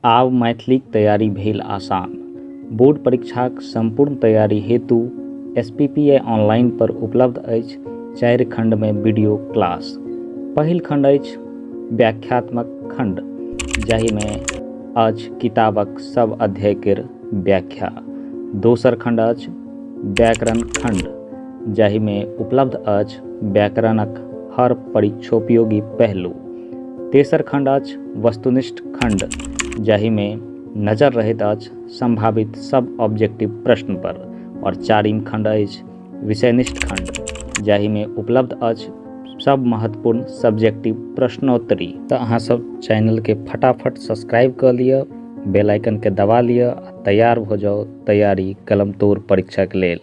आब मैथिलीक तैयारी भेल आसान। बोर्ड परीक्षाक संपूर्ण तैयारी हेतु एसपीपीआई ऑनलाइन पर उपलब्ध अछि चारि खंड मे वीडियो क्लास। पहिल खंड अछि व्याख्यात्मक खंड जाहि मे अछि किताबक सब अध्याय केर व्याख्या। दोसर खंड अछि व्याकरण खंड जाहि मे उपलब्ध अछि व्याकरणक हर परीक्षोपयोगी पहलू। तेसर खण्ड अछि वस्तुनिष्ठ खण्ड जाहिमे नजर रहैत अछि सम्भावित सब ऑब्जेक्टिव प्रश्न पर और चारिम खण्ड अछि विषयनिष्ठ खण्ड जाहिमे उपलब्ध अछि सब महत्वपूर्ण सब्जेक्टिव प्रश्नोत्तरी तऽ अहाँ सब चैनल के फटाफट सब्सक्राइब कऽ लिअ बेल आइकन के दबा लिअ आ तैयार भऽ जाउ तैयारी कलम तोड़ परीक्षा के लेल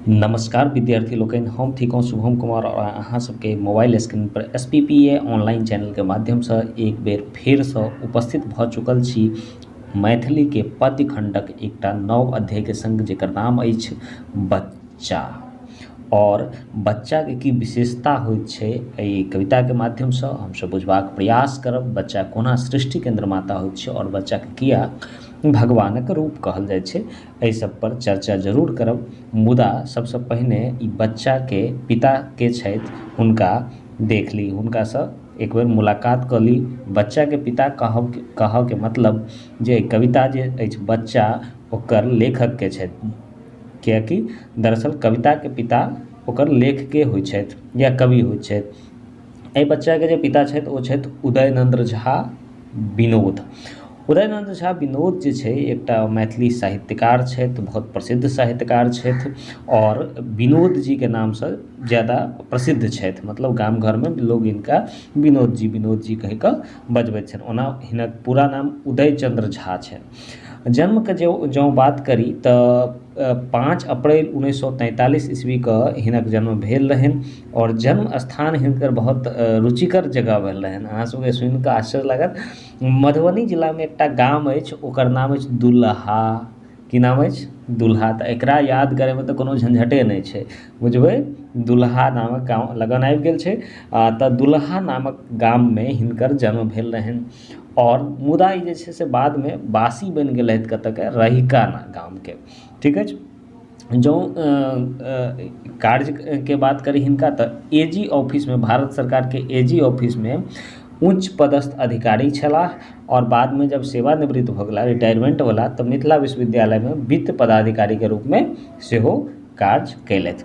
नमस्कार विद्यार्थी लोग हम थी कहूँ शुभम कुमार और अहाँ सबके मोबाइल स्क्रीन पर S P P A online channel के माध्यम से एक बेर फिर से उपस्थित भ चुकल छी मैथिली के पद्य खंडक एक नव अध्याय के संग जर नाम अछि बच्चा आओर बच्चाके की विशेषता होइ छै एहि कविताके माध्यमसँ हमसब बुझबाक प्रयास करब बच्चा कोना सृष्टिके निर्माता होइ छै आओर बच्चाके किया भगवानक रूप कहल जाइ छै एहि सब पर चर्चा जरूर करब मुदा सबसँ पहिने ई बच्चाके पिता के छथि हुनका देख ली हुनकासँ एक बेर मुलाकात कऽ ली बच्चाके पिता कहब कहऽके मतलब जे कविता जे अछि बच्चा ओकर लेखकके छथि किएकि दरअसल कविताके पिता ओकर लेखके होइ छथि या कवि होइ छथि एहि बच्चाके जे पिता छथि ओ छथि उदयनन्द्र झा विनोद उदयनन्द्र झा विनोद जे छै एकटा मैथिली साहित्यकार छथि बहुत प्रसिद्ध साहित्यकार छथि आओर विनोद जीके नामसँ ज्यादा प्रसिद्ध छथि मतलब गाम घरमे लोक हिनका विनोद जी विनोद जी कहिकऽ बजबै छथि ओना हिनक पूरा नाम उदय चन्द्र झा छनि छथि जन्मके जे जँ बात करी तऽ पाँच अप्रैल उनैस सओ तैँतालिस ईस्वीके हिनक जन्म भेल रहनि आओर जन्म स्थान हिनकर बहुत रुचिकर जगह भेल रहनि अहाँ सबके सुनिके आश्चर्य लागत मधुबनी जिलामे एकटा गाम अछि ओकर नाम अछि दुलहा की नाम अछि दुलहा तऽ एकरा याद करैमे तऽ कोनो झँझटे नहि छै बुझबै दुलहा नामक गाम लगन आबि गेल छै आओर तऽ दुलहा नामक गाममे हिनकर जन्म भेल रहनि आओर मुदा ई जे छै से बादमे वासी बनि गेलथि कतऽके रहिका गामके ठीक अछि जँ कार्यके बात करी हिनका तऽ ए जी ऑफिसमे भारत सरकारके ए जी ऑफिसमे उच्च पदस्थ अधिकारी छलाह आओर बादमे जब सेवानिवृत भऽ गेला रिटायरमेन्ट भेला तऽ मिथिला विश्वविद्यालयमे वित्त पदाधिकारीके रूपमे सेहो काज कयलथि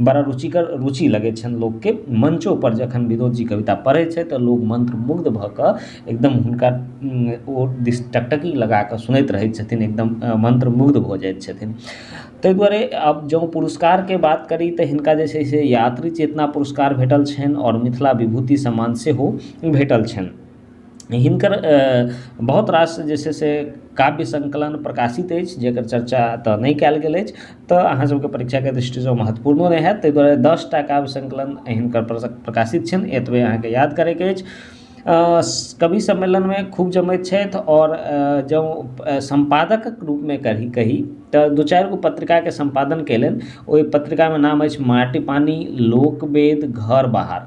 बड़ा रुचिकर रुचि लगै छनि लोकके मञ्चो पर जखन विनोद जी कविता पढ़ै छथि तऽ लोक मन्त्रमुग्ध भऽ कऽ एकदम हुनका ओ दिस टकटकी लगा कऽ सुनैत रहै छथिन एकदम मन्त्रमुग्ध भऽ जाइ छथिन ताहि दुआरे आब जँ पुरस्कारके बात करी तऽ हिनका जे छै से यात्री चेतना पुरस्कार भेटल छनि आओर मिथिला विभूति सम्मान सेहो भेटल छनि हिनकर बहुत रास जे छै से काव्य सङ्कलन प्रकाशित अछि जकर चर्चा एतऽ नहि कयल गेल अछि तऽ अहाँ सबके परीक्षाके दृष्टिसँ ओ महत्वपूर्णो नहि होयत तै दुआरे दस टा काव्य सङ्कलन हिनकर प्रकाशित छन्हि एतबे अहाँके याद करैके अछि कवि सम्मेलनमे खूब जमैत छथि आओर जँ सम्पादकक रूपमे कभी कही तऽ दू चारि गो पत्रिकाके सम्पादन कयलनि ओइ पत्रिकामे नाम अछि माटि पानि लोकवेद घर बाहर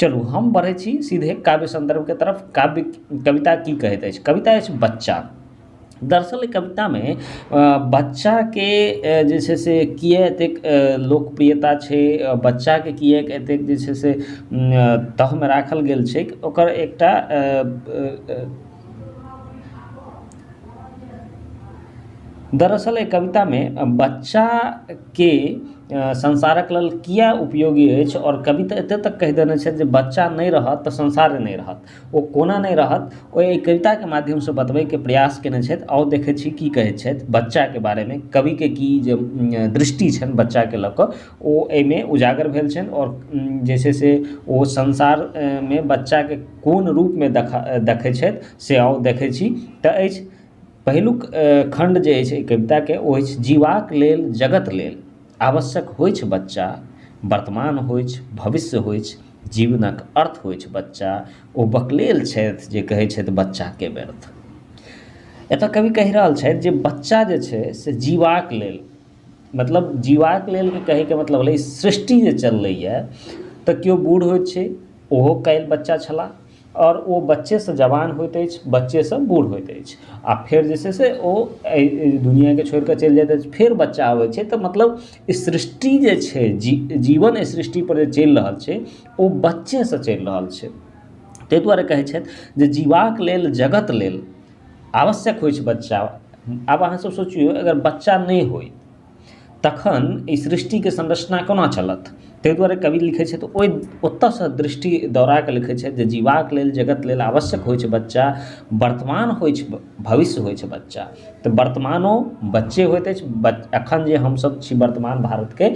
चलू हम बढ़ै छी सीधे काव्य सन्दर्भके तरफ काव्य कविता की कहैत अछि कविता अछि बच्चा दरअसल एहि कवितामे बच्चाके जे छै से किए एतेक लोकप्रियता छै बच्चाके किए एतेक जे छै से तहमे राखल गेल छै ओकर एकटा दरअसल एहि कवितामे बच्चा के संसारक लेल किया उपयोगी अछि आओर कवि तऽ एते तक कहि देने छथि जे बच्चा नहि रहत तऽ संसार नहि रहत ओ कोना नहि रहत ओ एहि कविताके माध्यमसँ बतबैके प्रयास कयने छथि आउ देखै छी की कहै छथि बच्चाके बारेमे कविके की जे दृष्टि छनि बच्चाके लअ कऽ ओ एहिमे उजागर भेल छनि आओर जे छै से ओ संसारमे बच्चाके कोन रूपमे देखै छथि से आउ देखै छी तऽ अछि पहिलुक खण्ड जे अछि एहि कविताके ओ अछि जीबाक लेल जगत लेल आवश्यक होइ छै बच्चा वर्तमान होइ छै भविष्य होइ छै जीवनक अर्थ होइ छै बच्चा ओ बकलेल छथि जे कहै छथि बच्चाके व्यर्थ एतऽ कवि कहि रहल छथि जे बच्चा जे छै से जीबाक लेल मतलब जीबाक लेल कहैके मतलब भेलै सृष्टि जे चललैया तऽ केओ बूढ़ होइ छै ओहो काल्हि बच्चा छलाह आओर ओ बच्चे से जवान होइत अछि बच्चे से बूढ़ होइत अछि आ फेर जे छै से ओ एहि दुनियाके छोड़िके चलि जाइत अछि फेर बच्चा अबैत छै तऽ मतलब ई सृष्टि जे छै जीवन एहि सृष्टि पर जे चलि रहल छै ओ बच्चे से चलि रहल छै ताहि दुआरे कहैत छथि जे जीबाक लेल जगत लेल आवश्यक होइत छै बच्चा आब अहाँ सब सोचिऔ अगर बच्चा नहि होइत तखन ई सृष्टिके संरचना कोना चलत ताहि दुआरे कवि लिखै छथि ओहि ओतऽसँ दृष्टि दौड़ाकऽ लिखै छथि जे जीबाक लेल जगत लेल आवश्यक होइ छै बच्चा वर्तमान होइ छै भविष्य होइ छै बच्चा तऽ वर्तमानो बच्चे होइत अछि बच एखन जे हमसब छी वर्तमान भारतके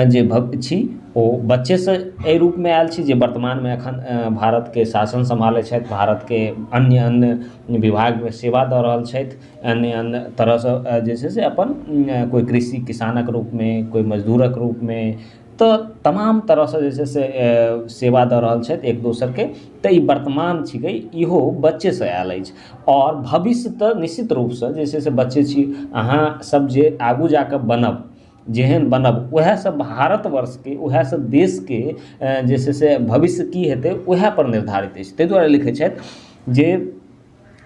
जे भक छी ओ बच्चेसँ एहि रूपमे आएल छी जे वर्तमानमे एखन भारतके शासन सम्हारै छथि भारतके अन्य अन्य विभागमे सेवा दऽ रहल छथि अन्य अन्य तरहसँ जे छै से अपन कोइ कृषि किसानक रूपमे कोइ मजदूरक रूपमे तऽ तमाम तरहसँ जे छै से सेवा दऽ रहल छथि एक दोसरके तऽ ई वर्तमान छिकै इहो बच्चेसँ आयल अछि आओर भविष्य तऽ निश्चित रूपसँ जे छै से बच्चे छी अहाँ सब जे आगू जाकऽ बनब जेहन बनब वएह सब भारत वर्षके वएह सब देशके जे छै से भविष्य की हेतै वएहपर निर्धारित अछि तै दुआरे लिखै छथि जे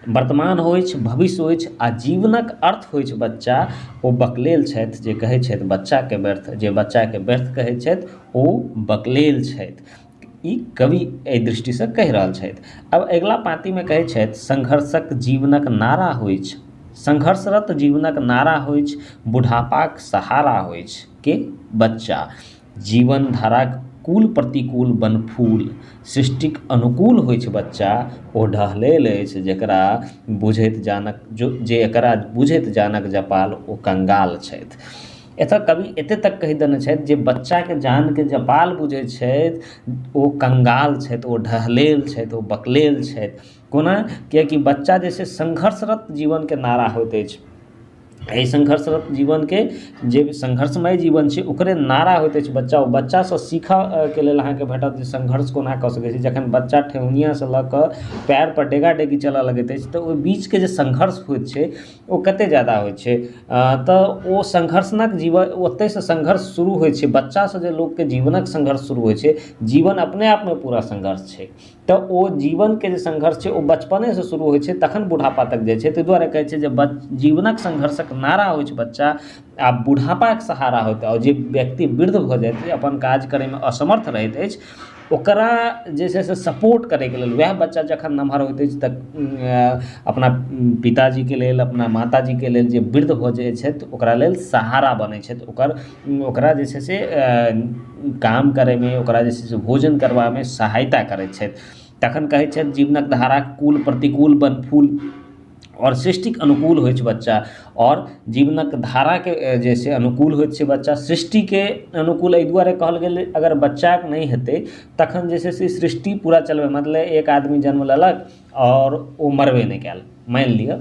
वर्तमान होइ अछि भविष्य होइ अछि आ जीवनक अर्थ होइ अछि बच्चा ओ बकलेल छथि जे कहै छथि बच्चाके व्यर्थ जे बच्चाके व्यर्थ कहै छथि ओ बकलेल छथि ई कवि एहि दृष्टिसँ कहि रहल छथि आब अगिला पाँतिमे कहै छथि संघर्षक जीवनक नारा होइ अछि संघर्षरत जीवनक नारा होइ अछि बुढ़ापाक सहारा होइ अछि के बच्चा जीवन धाराक कुल प्रतिकूल बनफूल सृष्टिक अनुकूल होइ छै बच्चा ओ ढहलेल अछि जकरा बुझैत जानक जो जे एकरा बुझैत जानक जपाल ओ कंगाल छथि एतऽ कवि एते तक कहि देने छथि जे बच्चाके जानके जपाल बुझै छथि ओ कंगाल छथि ओ ढहलेल छथि ओ बकलेल छथि कोना किएकि बच्चा जे छै सङ्घर्षरत जीवनके नारा होइत अछि एहि सङ्घर्षरत जीवनके जे सङ्घर्षमय जीवन छै ओकरे नारा होइत अछि बच्चा ओ बच्चासँ सीखऽके लेल अहाँके भेटत जे सङ्घर्ष कोना कऽ सकै छी जखन बच्चा ठेहुनियासँ लऽ कऽ पयरपर डेगा डेगी चलऽ लगैत अछि तऽ ओहि बीचके जे सङ्घर्ष होइत छै ओ कते जादा होइ छै तऽ ओ सङ्घर्षणक जीवन ओतैसँ सङ्घर्ष शुरू होइ छै बच्चासँ जे लोकके जीवनक सङ्घर्ष शुरू होइ छै जीवन अपने आपमे पूरा सङ्घर्ष छै तऽ ओ जीवन के जे संघर्ष छै ओ बचपने से शुरू होइ छै तखन बुढ़ापा तक जाइ छै ताहि दुआरे कहै छै जे जीवनक संघर्षक नारा होइ छै बच्चा आ बुढ़ापा के सहारा होयत आ जे व्यक्ति वृद्ध भऽ जायत जे अपन काज करै मे असमर्थ रहैत अछि ओकरा जे छै से सपोर्ट करै के लेल वएह बच्चा जखन नमहर होइत अछि तऽ अपना पिताजी के लेल अपना माताजी के लेल जे वृद्ध भऽ जाइ छथि ओकरा लेल सहारा बनै छथि ओकर ओकरा जे छै से काम करैमे ओकरा जे छै से भोजन करबामे सहायता करै छथि तखन कहै छथि जीवनक धारा कुल प्रतिकूल बन फूल आओर सृष्टिक अनुकूल होइ छै बच्चा आओर जीवनक धाराके जे छै से अनुकूल होइ छै बच्चा सृष्टिके अनुकूल अइ दुआरे कहल गेलै अगर बच्चाके नहि हेतै तखन जे छै से सृष्टि पूरा चलबै मतलब एक आदमी जन्म लेलक आओर ओ मरबे नहि कयल मानि लिअ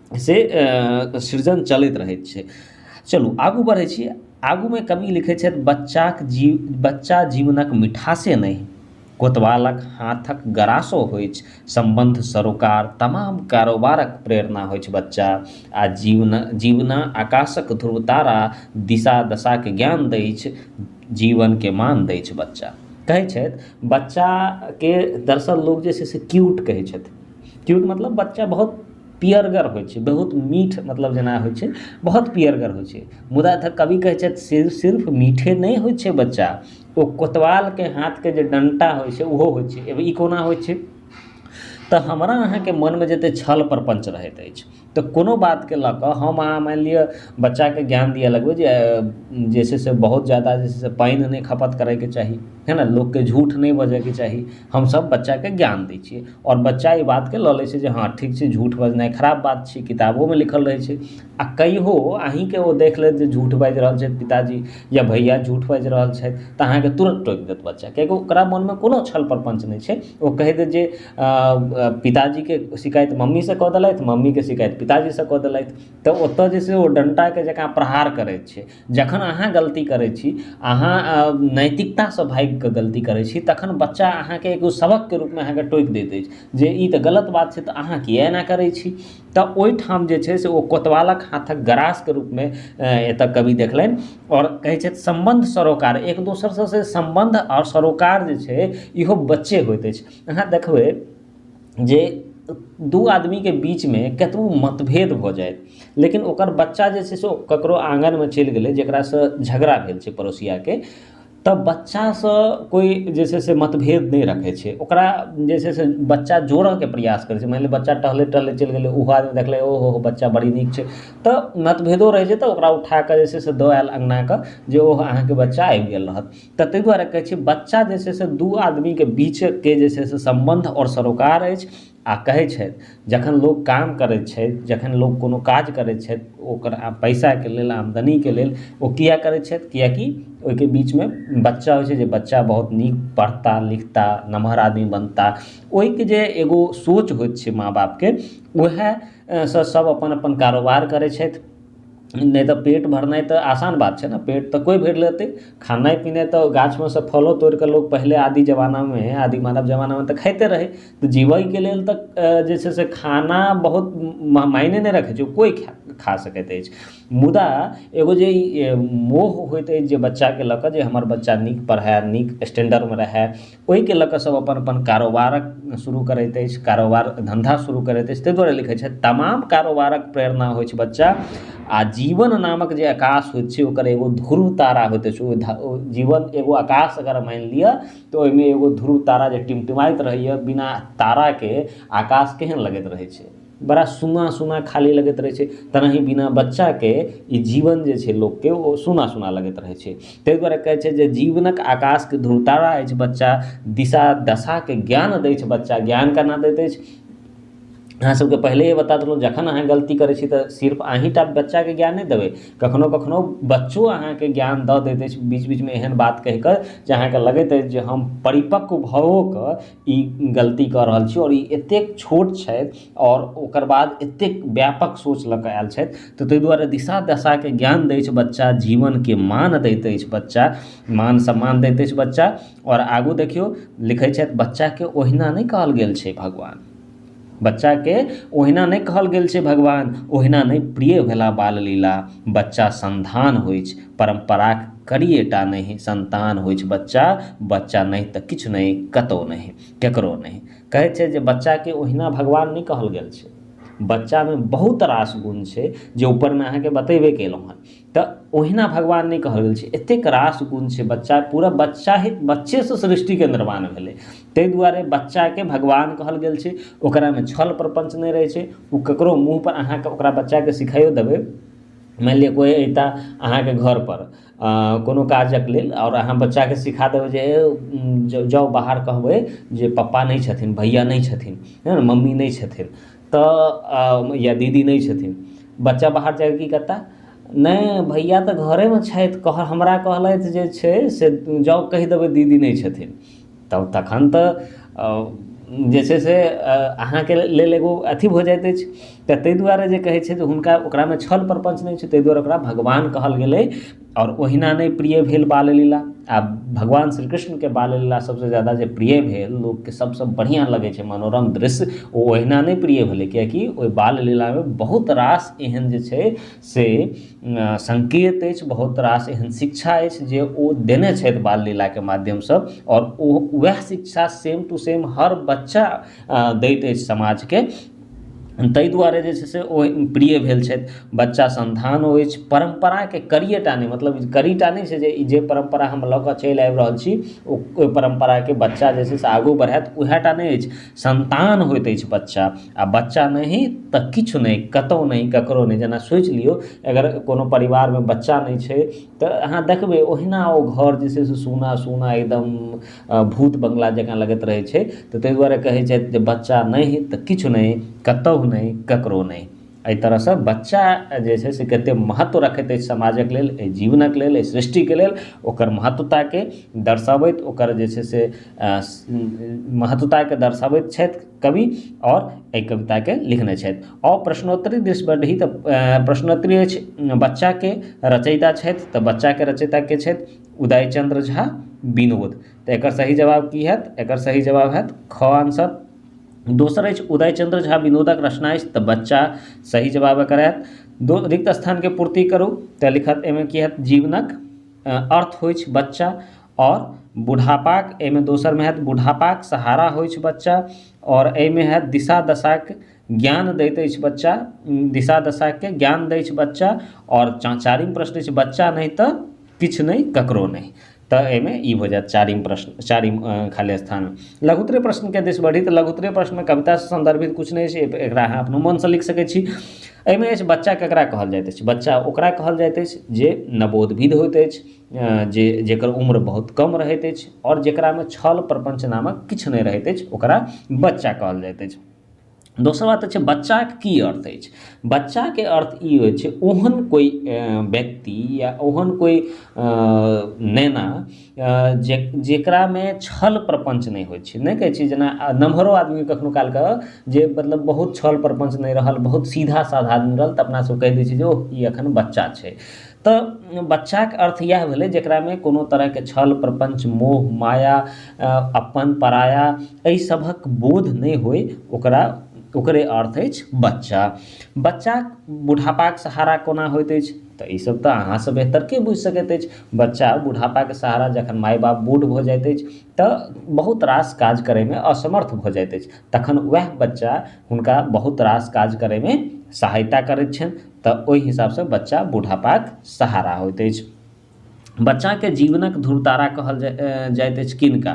से सृजन चलैत रहै छै चलू आगू बढ़ै छी आगूमे कवि लिखै छथि बच्चाक जीव बच्चा जीवनक मिठासे नहि कोतवालक हाथक गरासो होइछ सम्बन्ध सरोकार तमाम कारोबारक प्रेरणा होइछ बच्चा आ जीवन जीवना आकाशक ध्रुव तारा दिशा दशाक ज्ञान दैछ जीवनके मान दैछ बच्चा कहै छथि बच्चाके दरसल लोक जे छै से क्यूट कहै छथि क्यूट मतलब बच्चा बहुत पीयरगर होइ छै बहुत मीठ मतलब जेना होइ छै बहुत पीयरगर होइ छै मुदा एतऽ कवि कहै छथि से सिर्फ मीठे नहि होइ छै बच्चा ओ कोतवालके हाथके जे डंटा होइ छै ओहो होइ छै ई कोना होइ छै तऽ हमरा अहाँके मनमे जते छल प्रपञ्च रहैत अछि तऽ कोनो बातके लऽ कऽ हम अहाँ मानि लिअ बच्चाके ज्ञान दिअ लगबै जे जे छै से बहुत जादा जे छै से पानि नहि खपत करैके चाही है ने लोकके झूठ नहि बजैके चाही हमसब बच्चाके ज्ञान दै छियै आओर बच्चा ई बातके लऽ लै छै जे हँ ठीक छै झूठ बजनाइ खराब बात छै किताबोमे लिखल रहै छै आओर कहियो अहींके ओ देख लेत जे झूठ बाजि रहल छथि पिताजी या भैया झूठ बाजि रहल छथि तऽ अहाँके तुरत टोकि देत बच्चा किएक कि ओकरा मनमे कोनो छल प्रपञ्च नहि छै ओ कहि देत जे पिताजीके शिकायत मम्मीसँ कऽ देलथि मम्मीके शिकायत पिताजीसँ कऽ देलथि तऽ ओतऽ जे छै से ओ डन्टाके जकाँ प्रहार करै छै जखन अहाँ गलती करै छी अहाँ नैतिकतासँ भागिकऽ गलती करै छी तखन बच्चा अहाँके एगो सबकके रूपमे अहाँके टोकि दैत अछि जे ई तऽ गलत बात छै तऽ अहाँ किएक एना करै छी तऽ ओइठाम जे छै से ओ कोतवालक हाथक ग्रासके रूपमे एतऽ कवि देखलनि आओर कहै छथि सम्बन्ध सरोकार एक दोसरसँ सम्बन्ध आओर सरोकार जे छै इहो बच्चे होइत अछि अहाँ देखबै जे दू आदमीके बीचमे कतबो मतभेद भऽ जाइ लेकिन ओकर बच्चा जे छै से ककरो आँगनमे चलि गेलै जकरासँ झगड़ा भेल छै पड़ोसियाके तऽ बच्चासँ कोइ जे छै से मतभेद नहि रखै छै ओकरा जे छै से बच्चा जोड़ैके प्रयास करै छै मानि लिअ बच्चा टहलैत टहलैत चलि गेलै उहो आदमी देखलकै ओ हो हो बच्चा बड़ी नीक छै तऽ मतभेदो रहै छै तऽ ओकरा उठाकऽ जे छै से दऽ आयल अँगना कऽ जे ओ अहाँके बच्चा आबि गेल रहत तऽ तै दुआरे कहै छै बच्चा जे छै से दू आदमीके बीचके जे छै से सम्बन्ध आओर सरोकार अछि आओर कहै छथि जखन लोक काम करै छथि जखन लोक कोनो काज करै छथि ओकर पैसाके लेल आमदनीके लेल ओ किया करै छथि किएक कि ओइके बीचमे बच्चा होइ छै जे बच्चा बहुत नीक पढ़ता लिखता नमहर आदमी बनता ओइके जे एगो सोच होइ छै माँ बापके वएह सँ सब अपन अपन कारोबार करै छथि नहि तऽ पेट भरनाइ तऽ आसान बात छै ने पेट तऽ कोइ भरि लेतै खेनाइ पिनाइ तऽ गाछमे सँ फलो तोड़िके लोक पहिले आदि जमानामे आदि मानव जमानामे तऽ खाइते रहै तऽ जीबैके लेल तऽ जे छै से खाना बहुत मायने नहि रखै छै कोइ खा सकैत अछि मुदा एगो जे ई मोह होइत अछि जे बच्चाके लअ कऽ जे हमर बच्चा नीक पढ़ै नीक स्टैण्डर्डमे रहै ओहिके लऽ कऽ सब अपन अपन कारोबार शुरू करैत अछि कारोबार धन्धा शुरू करैत अछि ताहि दुआरे लिखै छथि तमाम कारोबारक प्रेरणा होइ छै बच्चा आ जीवन नामक जे आकाश होइ छै ओकर एगो ध्रुव तारा होइत अछि ओ जीवन एगो आकाश अगर मानि लिअ तऽ ओहिमे एगो ध्रुव तारा जे टिमटिमाइत रहैया बिना ताराके आकाश केहन लगैत रहै छै बड़ा सूना सूना खाली लगैत रहै छै तेनाही बिना बच्चाके ई जीवन जे छै लोकके ओ सूना सूना लगैत रहै छै तै दुआरे कहै छै जे जीवनक आकाशके ध्रुव तारा अछि बच्चा दिशा दशाके ज्ञान दै छै बच्चा ज्ञान केना दैत अछि अहाँ सबके पहिलैये बता देलहुँ जखन अहाँ गलती करै छी तऽ सिर्फ अहींटा बच्चाके ज्ञान नहि देबै कखनो कखनो बच्चो अहाँके ज्ञान दऽ दैत अछि बीच बीचमे एहन बात कहि कऽ जे अहाँके लगैत अछि जे हम परिपक्व भऽओ कऽ ई गलती कऽ रहल छी आओर ई एतेक छोट छथि आओर ओकर बाद एतेक व्यापक सोच लऽ कऽ आयल छथि तऽ तै दुआरे दिशा दशाके ज्ञान दै छै बच्चा जीवनके मान दैत अछि बच्चा मान सम्मान दैत अछि बच्चा आओर आगू देखियौ लिखै छथि बच्चाके ओहिना नहि कहल गेल छै भगवान बच्चाके ओहिना नहि कहल गेल छै भगवान ओहिना नहि प्रिय भेला बाल लीला बच्चा संन्तान होइ अछि परम्पराक करिये टा नहि संन्तान होइ अछि बच्चा बच्चा नहि तऽ किछु नहि कतौ नहि केकरो नहि कहै छै जे बच्चाके ओहिना भगवान नहि कहल गेल छै बच्चामे बहुत रास गुण छै जे उपरमे अहाँके बतेबे कयलहुँ हँ तऽ ओहिना भगवान नहि कहल गेल छै एतेक रास गुण छै बच्चा पूरा बच्चा ही बच्चेसँ सृष्टिके निर्माण भेलै तै दुआरे बच्चाके भगवान कहल गेल छै ओकरामे छल प्रपञ्च नहि रहै छै उ ककरो मुँहपर अहाँ ओकरा बच्चाके सिखाइयो देबै मानि लिअ कोइ अयता अहाँके घरपर कोनो काजक लेल आओर अहाँ बच्चाके सिखा देबै जे हे जाउ बाहर कहबै जे पप्पा नहि छथिन भैया नहि छथिन मम्मी नहि छथिन तऽ या दीदी नहि छथिन बच्चा बाहर जायत कि कतय नहि भैया तऽ घरेमे छथि कहऽ हमरा कहलथि जे छै से जाउ कहि देबै दीदी नहि छथिन तब तखन तऽ जे छै से अहाँके लेल एगो अथी भऽ जाइत अछि तऽ ताहि दुआरे जे कहै छै जे हुनका ओकरामे छल प्रपञ्च नहि छै ताहि दुआरे ओकरा भगवान कहल गेलै आओर ओहिना नहि प्रिय भेल बाल लीला आ भगवान श्री कृष्णके बाल लीला सभसँ ज्यादा जे प्रिय भेल लोकके सभसँ बढ़िआँ लगैत छै मनोरम दृश्य ओ ओहिना नहि प्रिय भेलै किआकि ओहि बाल लीलामे बहुत रास एहन जे छै से सङ्केत अछि बहुत रास एहन शिक्षा अछि जे ओ देने छथि बाल लीलाके माध्यमसँ आओर ओ ओएह शिक्षा सेम टू सेम हर बच्चा दैत अछि समाजके ताहि दुआरे जे छै से ओ प्रिय भेल छथि बच्चा सन्तान ओ अछि परम्पराके कड़िये टा नहि मतलब कड़ी टा नहि छै जे ई जे परम्परा हम लऽ कऽ चलि आबि रहल छी ओ ओहि परम्पराके बच्चा जे छै से आगू बढ़ायत वएह टा नहि अछि सन्तान होइत अछि बच्चा आओर बच्चा नहि तऽ किछु नहि कतौ नहि ककरो नहि जेना सोचि लियौ अगर कोनो परिवारमे बच्चा नहि छै तऽ अहाँ देखबै ओहिना ओ घर जे छै से सूना सूना एकदम भूत बंगला जकाँ लगैत रहै छै तऽ ताहि दुआरे कहै छथि जे बच्चा नहि तऽ किछु नहि कतहु नहि ककरो नहि एहि तरहसँ बच्चा जे छै से कतेक महत्व रखैत अछि समाजक लेल एहि जीवनक लेल एहि सृष्टिके लेल ओकर महत्वताके दर्शबैत ओकर जे छै से महत्वताके दर्शबैत छथि कवि आओर एहि कविताके लिखने छथि आओर प्रश्नोत्तरी दिस बढ़ी तऽ प्रश्नोत्तरी अछि बच्चाके रचयिता छथि तऽ बच्चाके रचयिता के छथि उदय चन्द्र झा विनोद तऽ एकर सही जवाब की हैत एकर सही जवाब हैत ख आन्सर दोसर अछि उदय चन्द्र झा विनोदक रचना अछि तऽ बच्चा सही जवाब एकर हैत दो रिक्त स्थानके पूर्ति करू तऽ लिखत एहिमे की हैत जीवनक अर्थ होइत छै बच्चा आओर बुढ़ापाक एहिमे दोसरमे हैत बुढ़ापाक सहारा होइत छै बच्चा आओर एहिमे हैत दिशा दशाक ज्ञान दैत अछि बच्चा दिशा दशाके ज्ञान दै छै बच्चा आओर चा चारिम प्रश्न छै बच्चा नहि तऽ किछु नहि ककरो नहि तऽ एहिमे ई भऽ जायत चारिम प्रश्न चारिम खाली स्थान लघुत्तरे प्रश्नके दिस बढ़ी तऽ लघुत्तरे प्रश्नमे कवितासँ सम्बन्धित किछु नहि छै एकरा अहाँ अपनो मनसँ लिखि सकै छी एहिमे अछि बच्चा ककरा कहल जाइत अछि बच्चा ओकरा कहल जाइत अछि जे नवोद्भिद होइत अछि जे जकर उम्र बहुत कम रहैत अछि आओर जकरामे छल प्रपञ्च नामक किछु नहि रहैत अछि ओकरा बच्चा कहल जाइत अछि दोसर बात अछि बच्चाके की अर्थ अछि बच्चाके अर्थ ई होइ छै ओहन कोइ व्यक्ति या ओहन कोइ नेना जे जकरामे छल प्रपञ्च नहि होइ छै नहि कहै छै जेना नमहरो आदमी कखनो काल कऽ जे मतलब बहुत छल प्रपञ्च नहि रहल बहुत सीधा साधा आदमी रहल तऽ अपना सब कहि दै छियै जे ओह ई एखन बच्चा छै तऽ बच्चाक अर्थ इएह भेलै जकरामे कोनो तरहके छल प्रपञ्च मोह माया अपन पराया अइ सभक बोध नहि होइ ओकरा ओकरे अर्थ अछि बच्चा बच्चा बुढ़ापाक सहारा कोना होइत अछि तऽ ई सभ तऽ अहाँसँ बेहतर के बुझि सकैत अछि बच्चा बुढ़ापाके सहारा जखन माय बाप बूढ़ भऽ जाइत अछि तऽ बहुत रास काज करैमे असमर्थ भऽ जाइत अछि तखन वएह बच्चा हुनका बहुत रास काज करैमे सहायता करैत छनि तऽ ओहि हिसाबसँ बच्चा बुढ़ापाक सहारा होइत अछि बच्चाके जीवनक धूर तारा कहल जाइत अछि किनका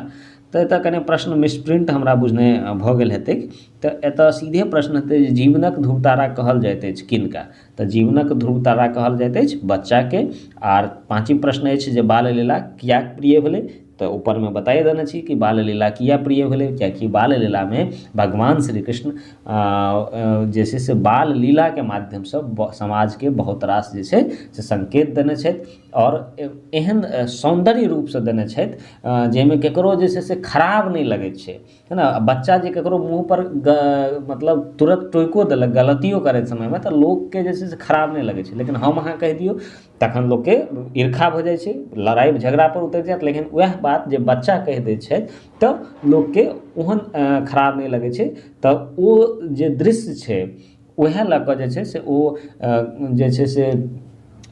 तऽ एतऽ कनि प्रश्न मिसप्रिंट हमरा बुझने भऽ गेल हेतै तऽ एतऽ सीधे प्रश्न हेतै जे जीवनक धूर तारा कहल जाइत अछि किनका तऽ जीवनक धूर तारा कहल जाइत अछि बच्चाके आर पाँचम प्रश्न अछि जे बाल लीला किएक प्रिय भेलै तऽ ऊपरमे बताए देने छी कि बाल लीला किया प्रिय भेलै कियाकि बाल लीलामे भगवान श्री कृष्ण जे छै से बाल लीलाके माध्यमसँ समाजके बहुत रास जे छै से सङ्केत देने छथि आओर एहन सौन्दर्य रूपसँ देने छथि जाहिमे ककरो जे छै से खराब नहि लगैत छै है ने बच्चा जे ककरो मुँह पर मतलब तुरत टोकियो देलक गलतियो करैत समयमे तऽ लोककेँ जे छै से खराब नहि लगैत छै लेकिन हम अहाँ कहि दियौ तखन लोककेँ ईर्खा भऽ जाइत छै लड़ाइ झगड़ा पर उतरि जायत लेकिन ओएह बात जे बच्चा कहि दै छै तऽ लोककेँ ओहन खराब नहि लगैत छै तऽ ओ जे दृश्य छै ओहे लऽ कऽ जे छै से ओ जे छै से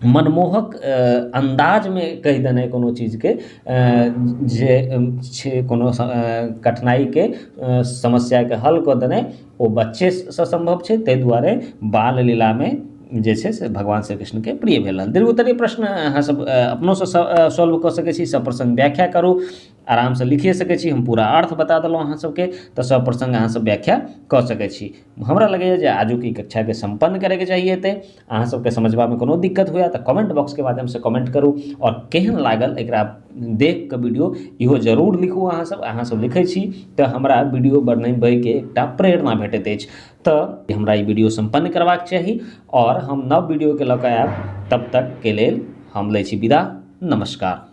मनमोहक अन्दाजमे कहि देनाइ कोनो चीजके जे छै कोनो कठिनाइके समस्याके हल कऽ देनाइ ओ बच्चेसँ सम्भव छै तै दुआरे बाल लीलामे जे छै से भगवान श्री कृष्णके प्रिय भेलनि दीर्घोत्तरी प्रश्न अहाँ सब अपनोसँ सॉल्व कऽ सकै छी सप्रसङ्ग व्याख्या करू आरामसँ लिखिए सकै छी हम पूरा अर्थ बता देलहुँ अहाँसभके तऽ सब प्रसङ्ग अहाँसभ व्याख्या कऽ सकै छी हमरा लगैए जे आजुक ई कक्षाके सम्पन्न करैके चाहिए एतै अहाँसभके समझबामे कोनो दिक्कत हुए तऽ कमेंट बॉक्सके माध्यमसँ कमेंट करू आओर केहन लागल एकरा देख कऽ वीडियो इहो जरूर लिखू अहाँसभ अहाँसभ लिखै छी तऽ हमरा वीडियो बनबैके एकटा प्रेरणा भेटैत अछि तऽ हमरा ई वीडियो सम्पन्न करबाक चाही आओर हम नव वीडियोके लऽ कऽ आयब तब तकके लेल हम लै छी विदा नमस्कार